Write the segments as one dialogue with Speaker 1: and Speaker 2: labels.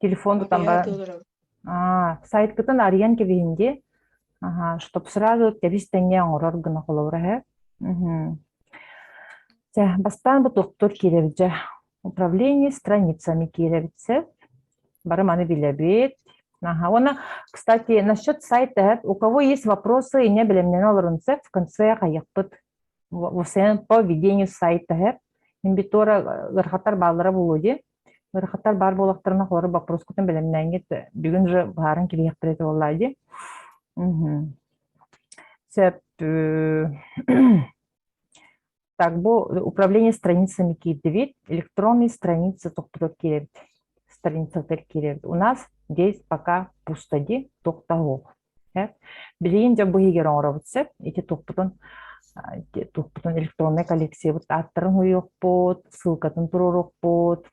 Speaker 1: Телефон тутан Утуйа бар толором. а, сайтгытын арыйан кэбиһин дии, аха, чтоб сразу кэбис-тэҥҥэ оҥорор гына холобура үһү. Мгм. Чэ, бастаан бу туохтуур киирэбит дьэ. Управление страницами киирэбит сөп. Бары маны билэбит. Ага, уонна, кстати, насчет сайта эһэт, у кого есть вопросы и небелемнене олорун сөп, в конце хайыппыт в в СНП ведению сайта эһэт. Имбитура ырхатар бааллара булуо дии. Ыарахаттар баар буолахтарына холобур боппуруоскутун бэлэмнээҥҥит бүгүн же быһааран кириэхтэрэ этэ буоллаа дии. Мгм. Сөп. э, Так, бу управление страницами киирдибит, электронные страницы тохтотор киирэбит, страницатыгар киирэбит. У нас здесь пока пусто, ди, тохтоһуох. Билигин дьэ бу иһигэр оҥоробут сөп. Ити туппутун туппутун электроннай коллекциябыт ааттарын уйуохпут, ссылкатын туруоруохпут.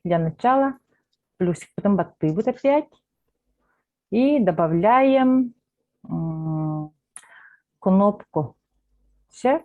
Speaker 1: Для начала плюсикпытын баттыыбыт опять. И добавляем кнопку. Все.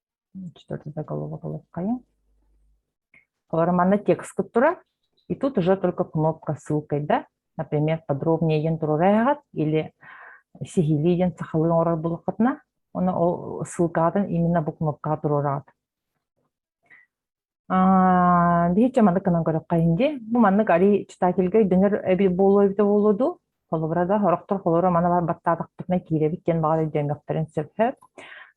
Speaker 1: четвертый оголовок ылыххайыҥ олору манна тексткут турар и тут уже только кнопка ссылкайда например подробнее диэн турура эҕэт или сиһилии диэн сахалыы оҥорор булаххытына оны ол ссылкаҕытын именно бу кнопкаҕа туруораҕыт Аа, биһиччэ маннык гынан көрөххө иһин дии. Бу маннык арий читательга өйдөнөр эбит буолуо эбитэ буолуо дуу. Холобурга орохтор холоро мана бар баттаатахпытына киирэбит диэн баҕар өйдөөмөхтөрүн сөбө.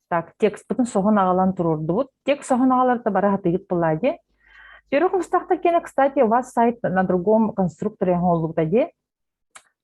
Speaker 1: Так, текстпытын соһон аҕалан туруордубут. Текст соһон аҕаларта бары хатыйыт была дии. Первых мустахта кена, кстати, у вас сайт на другом конструкторе оҥоллубута дии.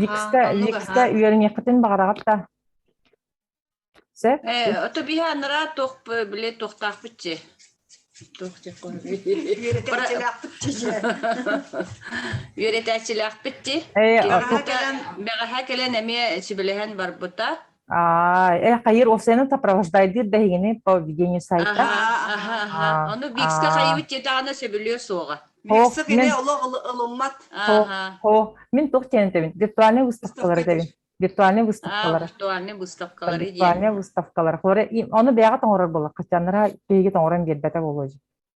Speaker 1: Ликсте, Аһаан, ликсте угаһаан. үөрэниэххитин баҕараҕыт да. Сөп? Э, ото
Speaker 2: биһи анараа туох э, били туохтаахпыт чи? Туох диэккоһуй? Үөрэтээччилээхпит чичэ. Үөрэтээччилээхпит ти. Э, Бэҕэһэ кэлэн- Бэҕэһэ кэлэн эмиэ сүбэлэһэн барбыта. Ээ,
Speaker 1: хайыыр ол сыаны сопровождайдыыр да иһигини по ведению сайта. Аха, аха, аха. Ону
Speaker 2: Биксэ хайыбыт дьадаана сөбүлүө суоҕа. Биксэ
Speaker 1: кини олуммат. Аха. Хо, мин туох тенетэбин? Виртуальный выставкалар этэбин. Виртуальный выставкалар. Виртуальный выставкалар. Виртуальный выставкалар. Оны бэйэҕэ тоҥорор болар, хачаннара киһиге тоҥорон биэрбэтэ болуо.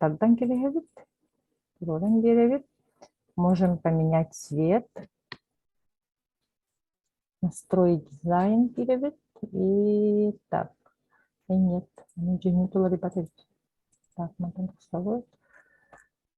Speaker 1: Тардан кэбиһэбит, туруоран биэрэбит. Можем поменять цвет. Настрой дизайн диэбит. И так. Нет, дьиҥи туларыпат эбит. Так, мантан тахсабыт.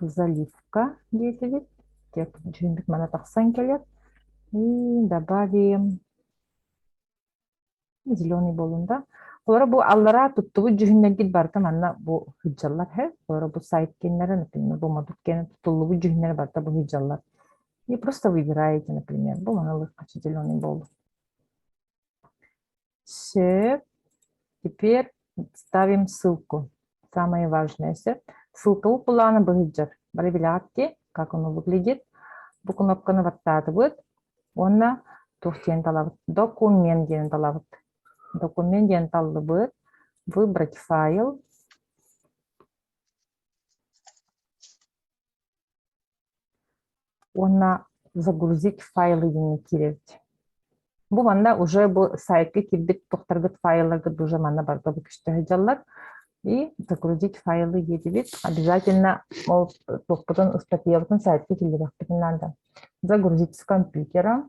Speaker 1: заливка диэтибит дьэ дьиҥмит мана тахсан кэлэр и добавим зеленый буолун да олоро бу аллараа туттубут дьүһүннэргит барыта манна бу ыдьаллар һэ олоро бу сайт киэннэрэ например бу модут киэнэ тутуллубут дьүһүннэрэ барыта бу ыдьаллар и просто выбираете например бу маны ылыахха зеленый буоллун Все. Теперь ставим ссылку. Самое важное все. Ссылка bu планы быһыджар. Бары билэҕит ки, как оно выглядит. Бу кнопканы баттаатыбыт. Уонна туох диэн талабыт? Документ диэн талабыт. Документ диэн таллыбыт. Выбрать файл. уонна загрузить файлы диэни киирэрбит. Бу манна уже бу сайтка кирбит тохторгут файлларгыт уже манна барга бу көстөһүдьаллар. И загрузить файлы диэтибит. Обязательно ол топпутун ыстатыйабытын сайтка киллерехпитин наада. Загрузить с компьютера.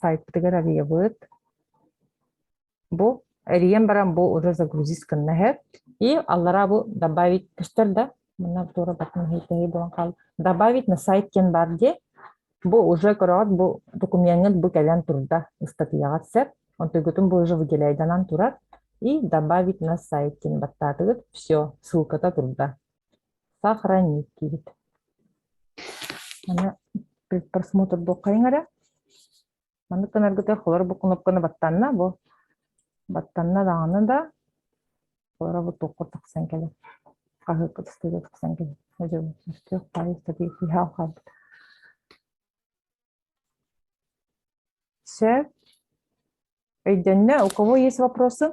Speaker 1: сайтыгар арыйабыт бу эрийэн баран бу уже загрузить гынна сөп и аллараа бу добавить көстөр да мына туора батын иһитиһи буолан хаалла добавить на сайт кен бар дии бу уже көрөҕүт бу докумуоҥҥут бу кэлэн турда ыстатыйаҕыт сөп онтугутун бу уже выделяйданан турар и добавить на сайт кин баттаатыгыт все ссылката турда сохранить диибит аны просмотр буоккайыҥ эрэ маннык гынаргытыгар холор бу кнопканы баттанна бу баттанна даҕаны да холоро бу туохха тахсан кэлэр хаһыакка тастыыга тахсан кэлэр өтөх пайы ыстатыйа киһи алхаабыт все өйдөннө у кого есть вопросы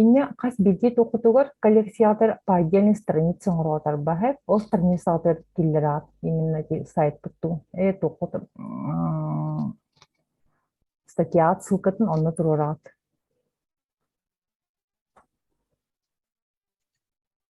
Speaker 1: Инньэ хас биирдии тухутугар коллекциятор паайдиан страница оҥороотарбаһыт, ол страницатыгар киллэр аат именно ити сайтпыт туу э туоххут статьяат ссылкатын онно туруораат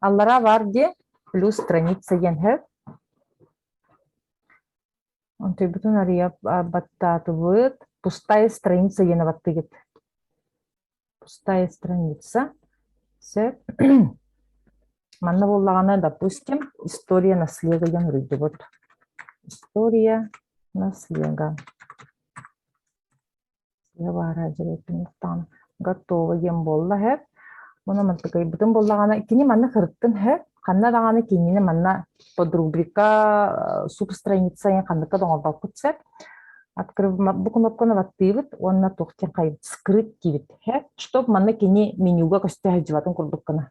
Speaker 1: Аллараа баар диэ, плюс страница диэн сөп. Онтуйбутун арыйа баттаатыбыт. Пустая страница диэн абаттыгыт. Пустая страница. Сөп. Манна буоллаҕына, допустим, история наследия диэн уруйдубут. История наследия. баара дьиэбиттэн мустаҕына готово диэн буолла һэп муну мантыкайбытын буллаҕына кини манна кырыттын һэп ханна даҕаны кинини манна подругрика суп страница сайын ханныка доҥорбоппут сеп открывбу кнопканы баттыыбыт уонна туохтан хайбыт скрыть диибит һэп чтобы манна кини менюга көстө сылдьыбатын курдуккына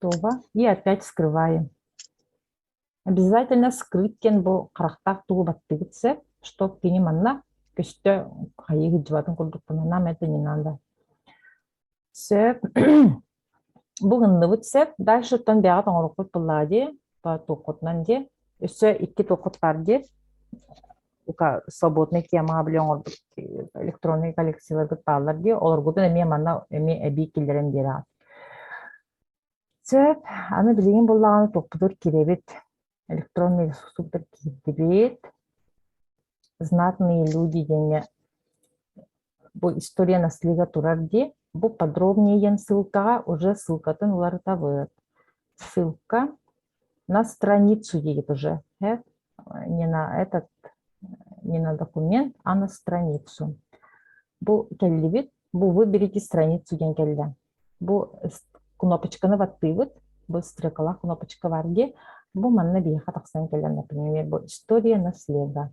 Speaker 1: туба и опять скрываем. Обязательно скрыткен бу харахтаах тугу баттыгыт сеп, что кини манна көстө хайыгы дьыбатын курдукпунан нам это не надо. Сөп. Бу гынныбыт сеп, дальше тон бэҕэ тоҥорукпут буллаа ди, туоххутунан ди, өссө икки туоххут бар ди, свободной темаҕа били оҥорбут электроннай коллекцияларгыт бааллар дии олоргутун эмиэ манна эмиэ эбии киллэрэн биэрэҕит сөп аны билигин буллаҕына туппутур кирэбит электронный ресурсуктар киирдибит знатные люди диэҥҥэ бу история наслига турар дии, бу подробнее ссылкаҕа уже ссылкатын уларытабыт. Ссылка на страницу диет уже, э? не на этот, не на документ, а на страницу. Бу келлибит, бу выберите страницу диэн кэллэ. Бу кнопочканы баттыыбыт, быстрыкала кнопочка бар ди, бу манна биһиэхэ тахсан кэллэн, например, бу история наследга.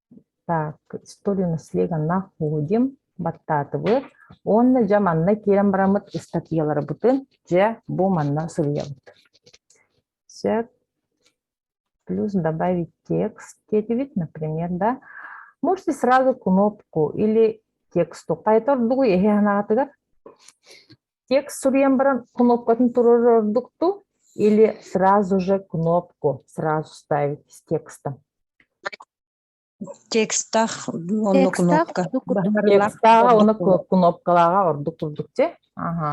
Speaker 1: Так, историю наследия находим баттаатыбыт уонна дьэ манна киирэн бараммыт ыстатыйаларбытын дьэ бу манна суруйабыт. Сөп. Плюс добавить текст этибит, например, да. Можете сразу кнопку или тексту хайта ордугу эһэ анаатыгар текст суруйан баран кнопкатын турар ордук ту или сразу же кнопку сразу ставить с текстом текстах
Speaker 3: онно
Speaker 4: кнопка
Speaker 3: текстаҕа
Speaker 1: уонна кнопкалааҕа ордук курдук те ага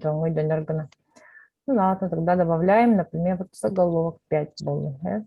Speaker 1: дьоҥҥой дөнөр гына ну ладно тогда добавляем например заголовок пять более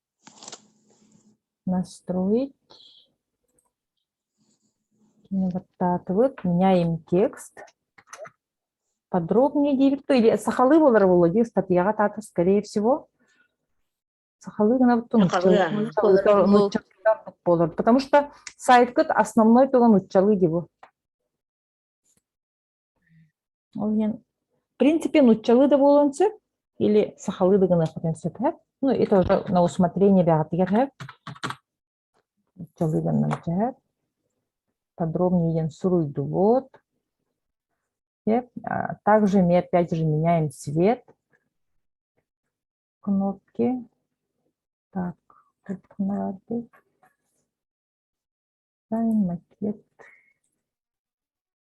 Speaker 1: настроить наверстаатыбыт меняем текст подробнее диэбиппэ или сахалыы буолара буолуо дии ыстатыйаҕа таата скорее всего сахалыы гына буолар потому что сайткыт основной туган нуччалыы дии бу Ол иһин, в принципе, нуччалыы да буолуон сөп, или сахалыы да гыныахпытын сөп эһэп. Ну, это уже на усмотрение бэҕэтигэр эһэп. Нуччалыы гынан эһэп. Подробнее идем суруйдубут. Также мы опять же меняем цвет кнопки. Так, Тайм макет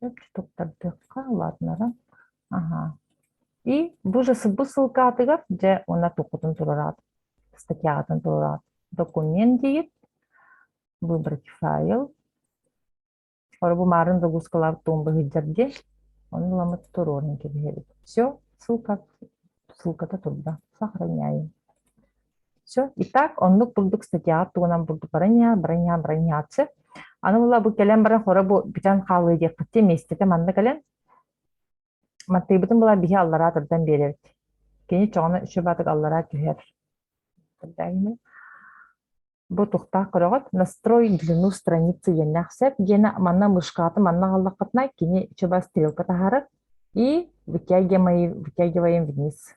Speaker 1: Чопчутук тардыахха, ладнерын. Ага. И бу же сбы ссылкаатыгар дьэ уонна туоххутун туруораат, статьяҕытын туруораат, документ диир, выбрать файл, орубумаарын догуускалар тумбы сылдьар диэн, оны ламыт туруорун кэбиһэбит. Все, ссылка, ссылката турда. Сохраняем. Все. Итак, оннук бурдук статьяҕа тугунан бурдук бараньа, бараньа, бараньааччы. Аны була бу кэлэн баран хоро бу бүтэн хаалыы диэхпитэ миэстэтэ манна кэлэн маттыйбытын була биһи аллараа турдан биэрэбит. Кини чоҕуна үчү баатык аллараа түһэр. Бу тухтаах көрөҕүт. Настрой длину страницы иэннээх сэп диэнэ манна мышкааты манна галлаххытына кини чыба стрелка таһарык и вытягиваем вниз.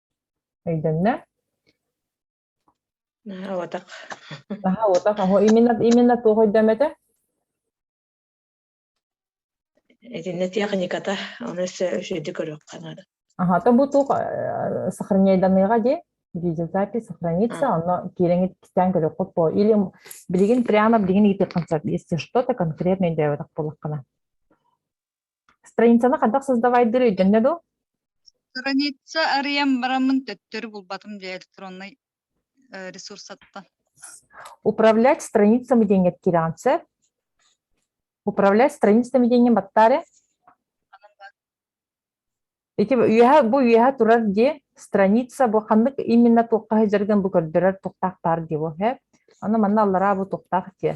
Speaker 1: Өйдөннө? Наһаа
Speaker 3: уотах. Наһаа уотах оһо именно
Speaker 1: именно туох өйдөмөтө?
Speaker 3: Итиннэ техниката, ону өссө үчүгэйдик көрүөххэ наада.
Speaker 1: Аха, то бу туох сохраняйданыаҕа дии? Видеозапись сохранится, оно киирэҥит кистээн көрүөххүт по или билигин прямо билигин ыытыаххын сөп, если что-то конкретно өйдөөбөтөх буоллаххына. Страницаны хайдах создавайдыыр өйдөннө дуу? Страница
Speaker 5: арыйан бараммын төттөрү булбатым дьэ электроннай э, ресурсаттан.
Speaker 1: Управлять страницами диэҥҥэ киирэҕин сөп. Управлять страницами диэҥҥин баттаарыҥ. Ити үөһэ бу үөһэ турар дии страница бу ханнык именно туохха сылдьаргын бу көрдөрөр туохтаах баар дии бу. Аны манна аллараа бу туохтаах дии.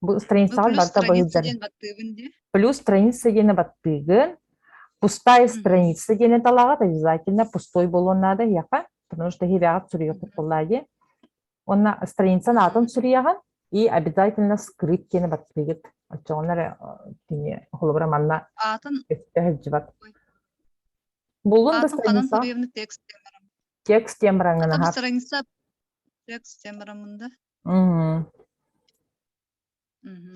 Speaker 1: Бу страницаҕа барыта быһыылдьар. Плюс страница диэни баттыыгын, пустая страница диэни талаҕыт, обязательно пустой буолуон наада эһиэхэ, потому что эһиэбэҕит суруйуоххут буоллаа дии. Уонна страницаны атын суруйаҕын и обязательно скрыть диэни баттыыгыт. Оччоҕуна эрэ кини холобура манна өттө
Speaker 5: сылдьыбат.
Speaker 1: Буллун да страница. Текст темарамында.
Speaker 5: Мгм. Мгм.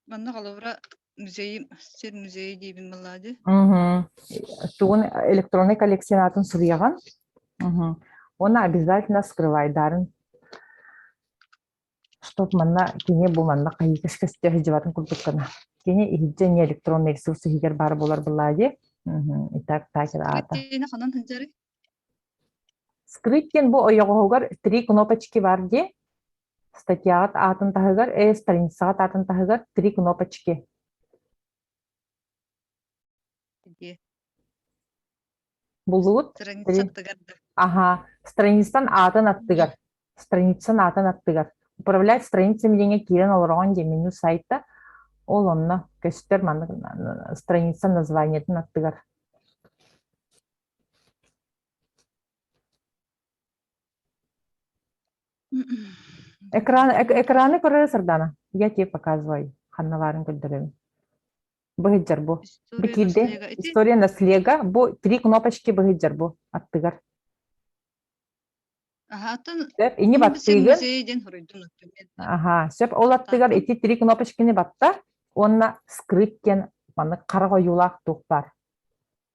Speaker 5: Манна холобура музейым сир музейа диибин
Speaker 1: баллади. Мгм. Тугун электроннай коллекциям аатын суруйаҕын? Мгм. Уонна обязательно скрывайдарын Чтоб манна кини бу манна хайыы кэскэсте сылдьыбатын курдуккана. Кини иһирдьэ эмиэ электронный ресурс иһигэр баар буолар былаадьы. Мгм. Итак, таачар аата. Киртиэни ханан сылдьары?
Speaker 5: Скрыть
Speaker 1: диэн бу ойоҕоһугар три кнопочки бар дии. Статьяҕыт аатын таһыгар, э, страницаҕыт аатын таһыгар три кнопочки. Дии. Булуут. Страницатыгар
Speaker 5: да. Аха,
Speaker 1: страницан аатын аттыгар. Страницан аатын аттыгар. Управлять страницами диэҥҥэ киирэн олороҕун диэн меню сайта. Ол онно көстөр маннык страница названиетын аттыгар. Экран, экраны көрө сырдаана. Я тебе показывай. Ханна баарын көрдөрөм. Быһыдьар бу. Бикирде. История на слега. Бу три кнопочки быһыдьар бу. Аттыгар. Ини баттыгын. Аха, сөп ол аттыгар ити три кнопочкини батта. Онна скрыт диэн маннык хара ойуулаах туох бар.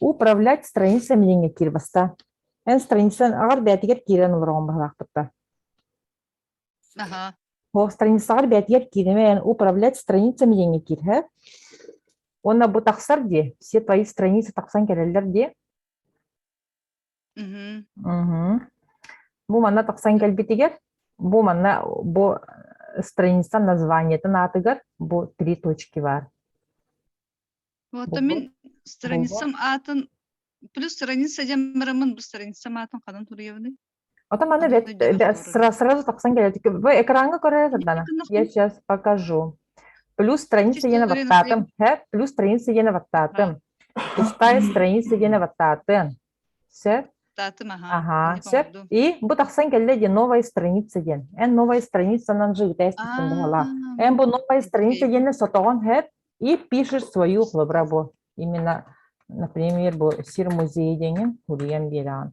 Speaker 1: Управлять страницами диэҥҥэ киир баста. Эн страница аҕар бээтигэр киирэн олороҕун баһылаахпыттан.
Speaker 5: Аха. О
Speaker 1: страницаҕар бээтигэр киириме эн управлять страницами диэҥҥэ киир һэ. Уонна бу тахсар дии, все твои страницы тахсан кэлэллэр дии. Бу манна тахсан кэлбитигэр, бу манна бу страница названиетын аатыгар бу три точки бар.
Speaker 5: Вот, а мин страницам аатын плюс страница дем барамын бу
Speaker 1: страницам аатын хадан туруябыны. Отам аны сразу тахсан келет. Вы экранга көрө сырдана. Я сейчас покажу. Плюс страница диэни баттаатым. Сөп, плюс страница диэни баттаатым. Пустая страница диэни баттаатым. Сөп. Баттаатым, аха. Аха, сөп. И бу тахсан кэллэ диэн новая страница диэн. Эн новая страницанан же итээститтэн баһалаах. Эн бу новая страница диэни сотоҕон хэт и пишешь свою хлобра бу. Именно, например, бу сир музейы диэҥин уруйан биэрэҕин.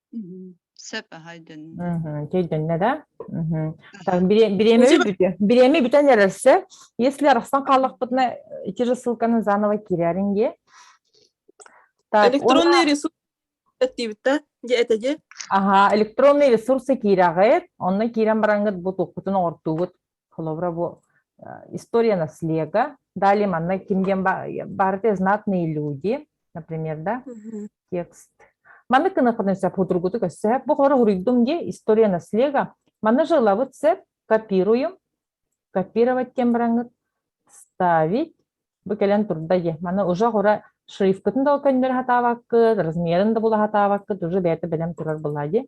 Speaker 5: Сөп аһа өйдөннө. Кейденне, да?
Speaker 1: Так, бириэмэ бүтэ. Бириэмэ бүтэн эрэрсе, если арахсан хааллахпытына ити же ссылканы заново кириаринге. Электронный
Speaker 6: ресурс диэбиттэ, дьэ этэ дьэ. Аха,
Speaker 1: электронный ресурсы киираҕыт, онно киирэн бараҥгыт бу тухпутун оҕортуугут. холобура бу история наслега далее манна ким диэн баарыты знатные люди например да текст манны кынакыныча путургуту көссө бу холобура уруйдум ди история наслега манны жилабыт сеп копируем копировать кем браҥыт ставить бу кэлэн турда ди маны уже хора шрифкытын да көннөр хатаабаккыт размерын да була хатаабаккыт уже бэйэтэ бэлэм турар була ди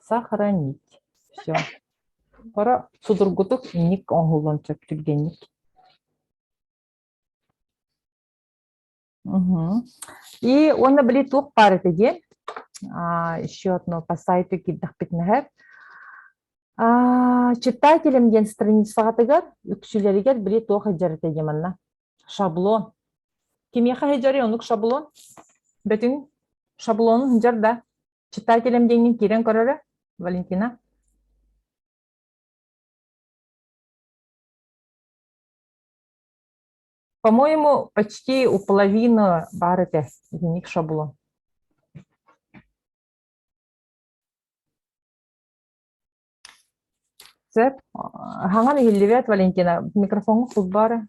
Speaker 1: Сохранить все. Хоро судургутук инник оҥоһуллан сөп түргэнник. И уонна били туох баар этэ диэн еще одно по сайту киирдэхпитинэһэр читателям диэн страницаҕытыгар үксүлэригэр били туох сылдьар этэ диэн манна шаблон кимиэхэ сылдьарый оннук шаблон бөтүҥ шаблон сылдьар да Читателям диэҥҥин киирэн көрөрө, Валентина? По-моему, почти у половины бар этэ дневник шаблон. Сөп. Хаҥан иһиллибэт, Валентина. Микрофоҥҥа кут баара.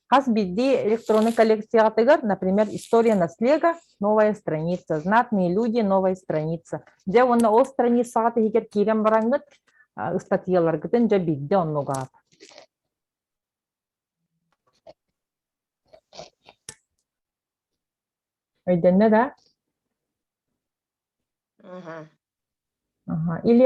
Speaker 1: Хас биирдии электронный коллекцияҕытыгар, например, «История наслега», «Новая страница», «Знатные люди», «Новая страница». Дьэ уонна ол страницаҕа тиһигэр киирэн бараҥҥыт, ыстатыйаларгытын дьэ биирдэ оннугаҕыт. Өйдөннө да? Или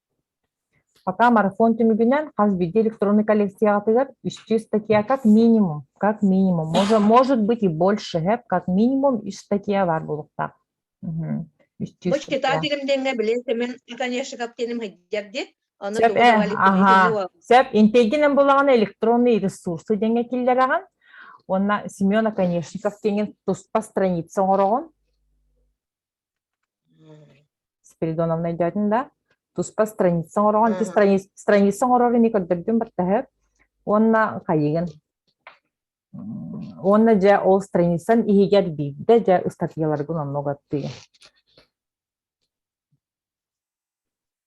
Speaker 1: Пока марафон түмүгүнэн хас биирдии электроннай коллекцияҕытыгар үстүү статья как минимум, как минимум, может, может быть и больше, эп как минимум үс статья баар буолуохтаах. Бу
Speaker 3: читаа тигимдиэҥҥэ билин сэмин конечно каптиным хайдиар диet аны сөп аха
Speaker 1: сөп интегинен булаҕына электронный ресурсы диэҥҥэ киллэрэҕин уонна Семена конечно каптиҥин туспа страница оҥороҕун Спиридоновна өйдөөтүн да, туспа страница оҥороҕун, ити страница, страница оҥорор ини көрдөрдүм баттаһык уонна хайыгын. Уонна дьэ ол страницан иһигэр биирдэ дьэ ыстатыйаларгын онно угаттыгын.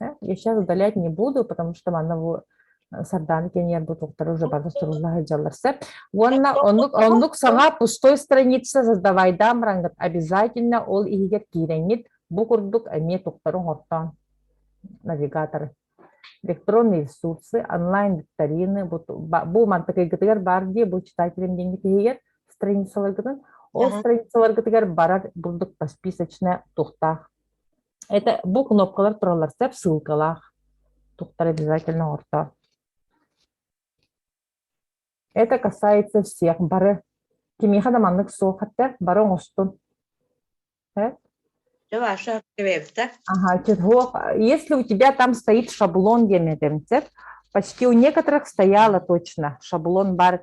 Speaker 1: Я сейчас удалять не буду, потому что манна сардааны кеньербут уктары уже бардастырылла сылдьаллар Уонна оннук оннук саҥа пустой страница создавайдаам рангат обязательно ол иһигэр киирэҥҥит бу курдук эмиэ туктары оҥортоон навигатор электронные ресурсы, онлайн-викторины, бу мантыкайгытыгар баар дии, бу читателям диэҥҥит иһигэр страницаларгытын, ол страницаларгытыгар барар бурдук посписочная тухтаах Это бу кнопкалар тураллар сөп ссылкалаах туктар обязательно орто. Это касается всех бары. Кимиэхэ да маннык суох хатта бары оҥостун.
Speaker 3: Ваша квевта. Ага, чего?
Speaker 1: Если у тебя там стоит шаблон диаметром, почти у некоторых стояло точно шаблон бар,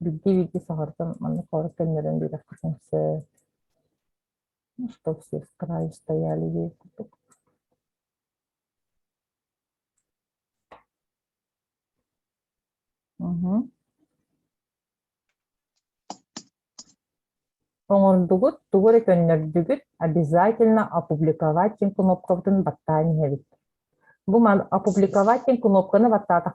Speaker 1: Биирдии биирдии саҕаттан маннык куорат көннөрөн биэрэххитин сөп. Муста все скраи стояли ей купок. Угу. Оҥордугут, тугу эрэ көннөрдүгүт, обязательно опубликовать диэн кнопкабытын баттаан иһэбит. Бу опубликовать диэн кнопканы баттаатахпытына,